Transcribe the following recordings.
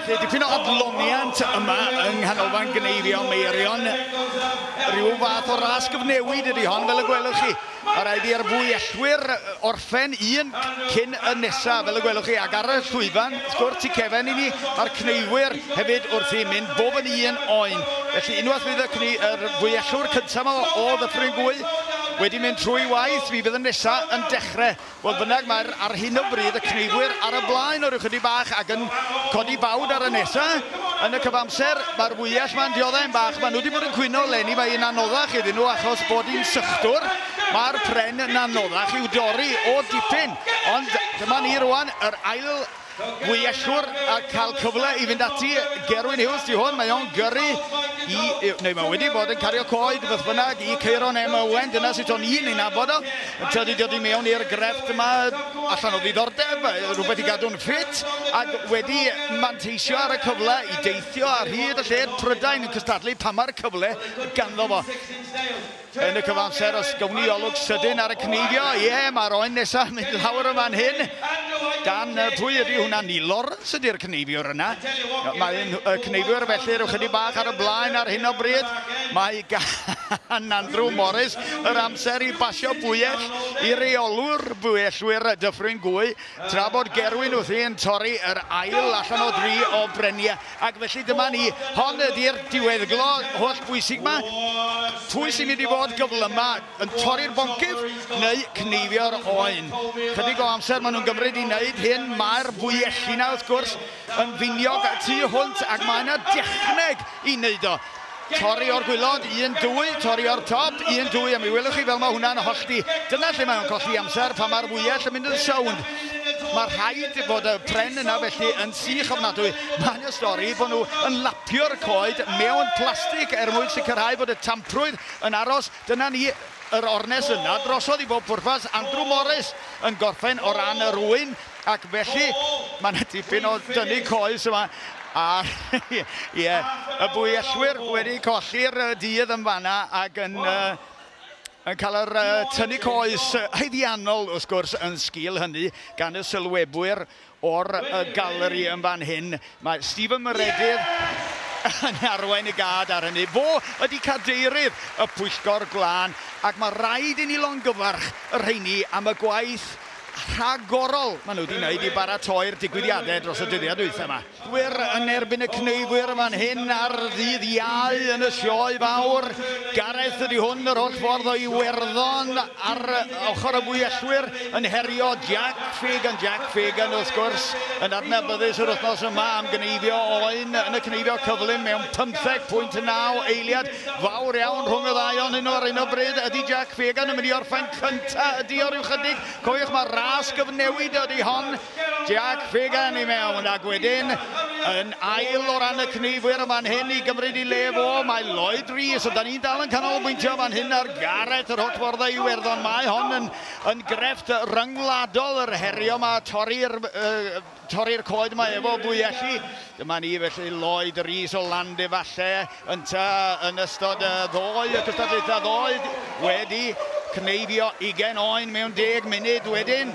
felly dipyn o adloniant yma yng nghanolfan gneifio Meirion. Rhyw fath o ras gyfnewid ydy hon, fel y gwelwch chi. Mae rhaid i'r fwyellwyr o'r Phen un cyn y nesa, fel y gwelwch chi, ac ar y llwyfan, wrth gwrs, tu cefn i ni, mae'r cneifwyr hefyd wrth i mynd, bob yn un oen. Felly, unwaith fydd y cni, yr fwyellwr cyntaf o, o Ddyffryn Gwy wedi mynd trwy waith, mi fydd y nesa yn dechrau. Fodd bynnag, mae'r, ar hyn o bryd, y cneifwyr ar y blaen o ryw chydig bach ac yn codi bawd ar y nesa. Yn y cyfamser, mae'r fwyell ma'n dioddef yn bach. Maen nhw wedi bod yn cwyno leni, mae hi'n anoddach iddyn nhw achos bod hi'n sychdwr. Mae'r pren yn anoddach i'w dorri o dipyn, ond dyma ni rwan, yr ail wyellwr a cael cyfle i fynd ati. Gerwyn Hughes di hwn, mae o'n gyrru i, neu mae wedi bod yn cario coed beth bynnag i Ceiron M. Owen, dyna sut o'n i'n ei nabod o. Tydi dod i mewn i'r grefft yma allan o ddiddordeb, rhywbeth i gadw'n ffit, ac wedi manteisio ar y cyfle i deithio ar hyd y lled Prydain yn cystadlu pan mae'r cyfle ganddo fo. yn y cyfamser os gawn ni olwg sydyn ar y cneifio. Ie, yeah, mae'r oen nesaf yn mynd lawr yma'n hyn. Gan pwy ydy hwnna? Ni Lawrence ydy'r cneifiwr yna. Mae y cneifiwr felly rhyw chydig bach ar y blaen ar hyn o bryd. Mae gan Andrew Morris yr amser i basio bwyell i reolwr bwyellwyr Dyffryn Gwy tra bod Gerwyn wrthi yn torri yr ail allan o dri o breniau. Ac felly dyma ni, hon ydi'r diweddglo holl bwysig ma. Pwy sy'n mynd i fod gyflyma yn torri'r boncyff neu cneifio'r oen? Chydig o amser maen nhw'n gymryd i wneud hyn, mae'r fwyelli na wrth gwrs yn finiog y tu hwnt ac mae yna dechneg i wneud o. Torri o'r gwylod, un, dwy, torri o'r top, un, dwy, a mi welwch chi fel mae hwnna'n hollti. Dyna lle mae o'n colli amser, pan mae'r fwyell yn mynd yn sownd. Mae rhaid fod y pren yna felly yn sych ofnadwy. Mae'n y stori bod nhw yn lapio'r coed mewn plastig er mwyn sicrhau bod y tamprwydd yn aros. Dyna ni, yr ornest yna drosodd i bob pwrpas. Andrew Morris yn gorffen o ran yr ŵyn. Ac felly, mae yna dipyn o dynnu coes yma. A, ie, y bwyellwyr wedi colli'r dydd yn fanna ac yn, uh, yn cael yr uh, tynnu coes haeddiannol, wrth gwrs, yn sgil hynny, gan y sylwebwyr o'r uh, galeri yn fan hyn, Mae Stephen Maredydd yn arwain y gad ar hynny. Fo ydy cadeirydd y pwyllgor glân ac mae rhaid i ni longyfarch y rheini am y gwaith rhagorol maen nhw wedi wneud i baratoi'r digwyddiadau dros y dyddiau dwytha yma. Gwir yn erbyn y cneifwyr fan hyn ar ddydd Iau yn y Sioe Fawr. Gareth ydy hwn yr holl ffordd o Iwerddon. Ar y ochr y Bualwyr yn herio Jack Fagan. Jack Fagan, wrth gwrs, yn adnabyddus yr wythnos yma am gneifio oen yn y cneifio cyflym mewn 15.9 eiliad. Fawr iawn rhwng y ddau o'n nhw ar un o bryd. Ydy Jack Fagan yn mynd i orffen cynta? Ydy o ryw chydig? Cofiwch, mae ras gyfnewid ydy hon. Jack Fagan i mewn ac wedyn yn ail o ran y cneifwyr yn fan hyn i gymryd i le fo. Mae Lloyd Rees, a da ni'n dal yn canolbwyntio fan hyn ar Gareth yr Hotfforddau Iwerddon. Mae hon yn, yn grefft ryngwladol yr herio yma, torri'r uh, torri coed mae efo fwyelli. Dyma ni felly Lloyd Rees o Land efallai. Yntau, yn ystod y ddou gystadlaethau ddoe, wedi cneifio ugain oen mewn deg munud wedyn,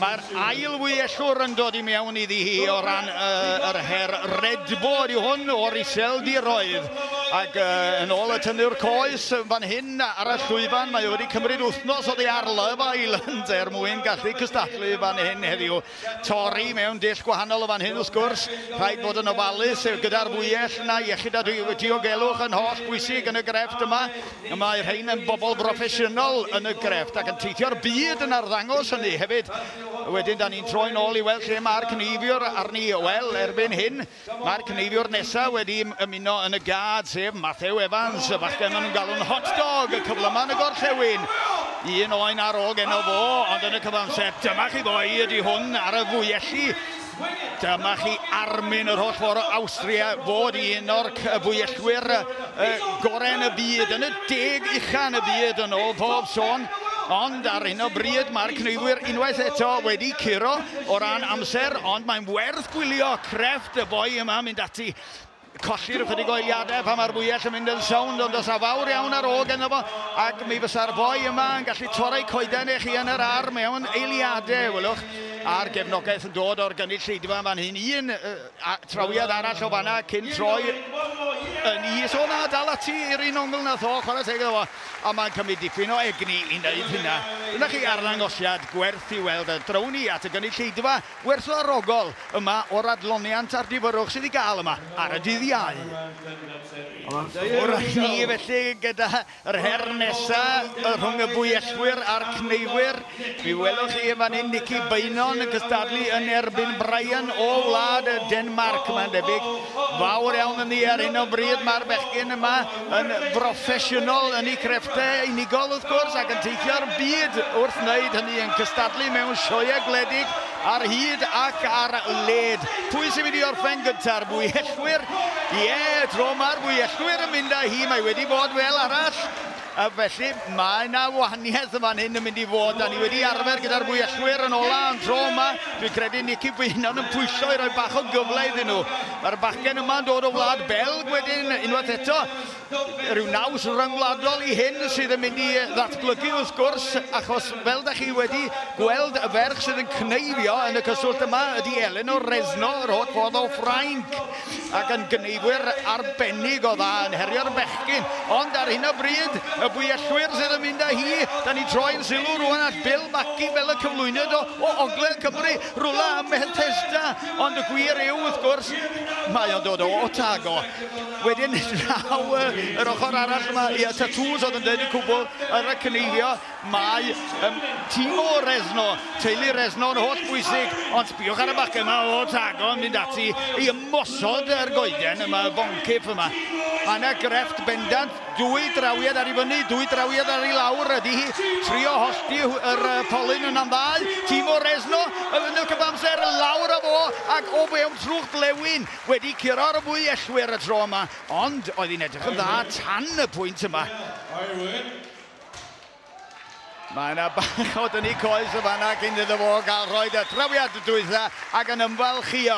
mae'r ail wyellwr yn dod i mewn iddi hi o ran yr her redbod yw hwn o'r iseldiroedd. Ac yn ôl y tynnwr coes yn fan hyn ar y llwyfan, mae wedi cymryd wythnos oddi ar Love Island er mwyn gallu cystadlu fan hyn heddiw. Torri mewn dull gwahanol o fan hyn wrth gwrs, rhaid bod yn ofalus gyda'r fwyell na iechyd a diogelwch yn holl bwysig yn y grefft yma. Mae rhain yn bobl broffesiynol yn y grefft ac yn teithio'r byd yn arddangos hynny hefyd. Wedyn da ni'n troi'n ôl i weld lle mae'r cneifiwr arni, wel erbyn hyn, Mae'r cynheiliwr nesaf wedi ymuno yn y gad, sef Mathew Evans, y bachgen maen nhw'n galw'n Hot Dog, y cyflyma yn y gorllewin. Un oen ar ôl geno fo, ond yn y cyfamser, dyma chi ddoe, ydy hwn ar y fwyelli. Dyma chi armyn yr holl ffordd o Awstria fod un o'r fwyellwyr y gorau yn y byd, yn y deg ucha yn y byd yn ôl bob sôn, ond ar hyn o bryd mae'r cneifwyr unwaith eto wedi curo o ran amser, ond mae'n werth gwylio crefft y boi yma mynd ati colli'r ychydig o eiliadau pan mae'r fwyell yn mynd yn sownd, ond os a fawr iawn ar ôl ganddo fo, ac mi fysa'r boi yma yn gallu torri coeden eich yn yr ar mewn eiliadau, welwch, a'r gefnogaeth yn dod o'r gynulleidfa fan hyn, un A trawiad arall o fanna cyn troi yn is. O na, dal ati i'r un ongl na tho, chwarae teg iddo fo. A mae'n cymryd dipyn o egni i wneud hynna. Dyna chi arddangosiad gwerth i weld. A draw ni at y gynulleidfa werthfawrogol yma o'r adloniant a'r difyrrwch sydd i gael yma ar y dydd Iau. Ffwrdd â ni felly gyda Yr her nesa y rhwng y Buellwyr a'r Cneifwyr. Mi welwch chi yn fan hyn Nicky Beynon yn cystadlu yn erbyn Brian o wlad Denmarc. Mae'n debyg fawr iawn yn ddi ar hyn o bryd. Mae'r bechgyn yma yn broffesiynol yn ei crefftau unigol wrth gwrs ac yn teithio'r byd wrth wneud hynny yn cystadlu mewn sioeau gwledig Ar hyd ac ar led. Pwy sy'n mynd i orffen gynta'r Bwyellwyr? Ie, yeah, tro mae'r Bwyellwyr yn mynd â hi. Mae wedi bod fel arall. A felly mae yna wahaniaeth yn fan hyn yn mynd i fod. Da ni wedi arfer gyda'r Bwyellwyr yn ola, ond tro yma, dwi'n credu Nicky Bwynon yn pwysio i roi bach o gyfle iddyn nhw. Mae'r bachgen yma'n dod o wlad Belg wedyn, unwaith eto. rhyw naws ryngwladol i hyn sydd yn mynd i ddatblygu wrth gwrs, achos fel da chi wedi gweld, y ferch sydd yn cneifio yn y cyswllt yma ydy Eleanor Rezno, yr holl ffordd o Ffrainc, ac yn gneifwyr arbennig o dda yn herio'r bechgyn. Ond ar hyn o bryd, y bwyellwyr sydd yn mynd â hi, da ni troi'n sylw rwan at Bill Mackie fel y cyflwynydd o, o Ogledd Cymru, rwla ym Mhethesda, ond y gwir yw, wrth gwrs, mae o'n dod o Otago. Wedyn draw y, yr ochr arall yma, ia, Tatŵs oedd yn dweud y cwbl ar y cyneifio, mae um, tîm o Resno, teulu Resno yn holl bwysig, ond sbiwch ar y bac yma o Tago yn mynd ati i ymosod ar goeden yma, y boncyff yma. Mae yna grefft bendant, dwy drawiad ar ei fyny, dwy drawiad ar ei lawr, ydy hi trio hollti yr polyn yn am ddau, tîm o Resno, yn y cyfamser lawr a fo, ac o fewn trwch blewyn, Wedi curo mwy ellwyr y tro yma, ond oedd hi'n edrych yn dda tan y pwynt yma. Mae yna bach o dynnu coes y fanna cyn iddo fo gael rhoi y trawiad dwytha ac yn ymfalchio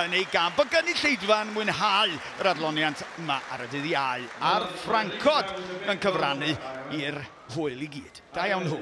yn ei gamp. Mae gynulleidfa'n mwynhau yr adloniant yma ar y dydd Iau, a'r ffrancod yn cyfrannu i'r hwyl i gyd. Da iawn nhw.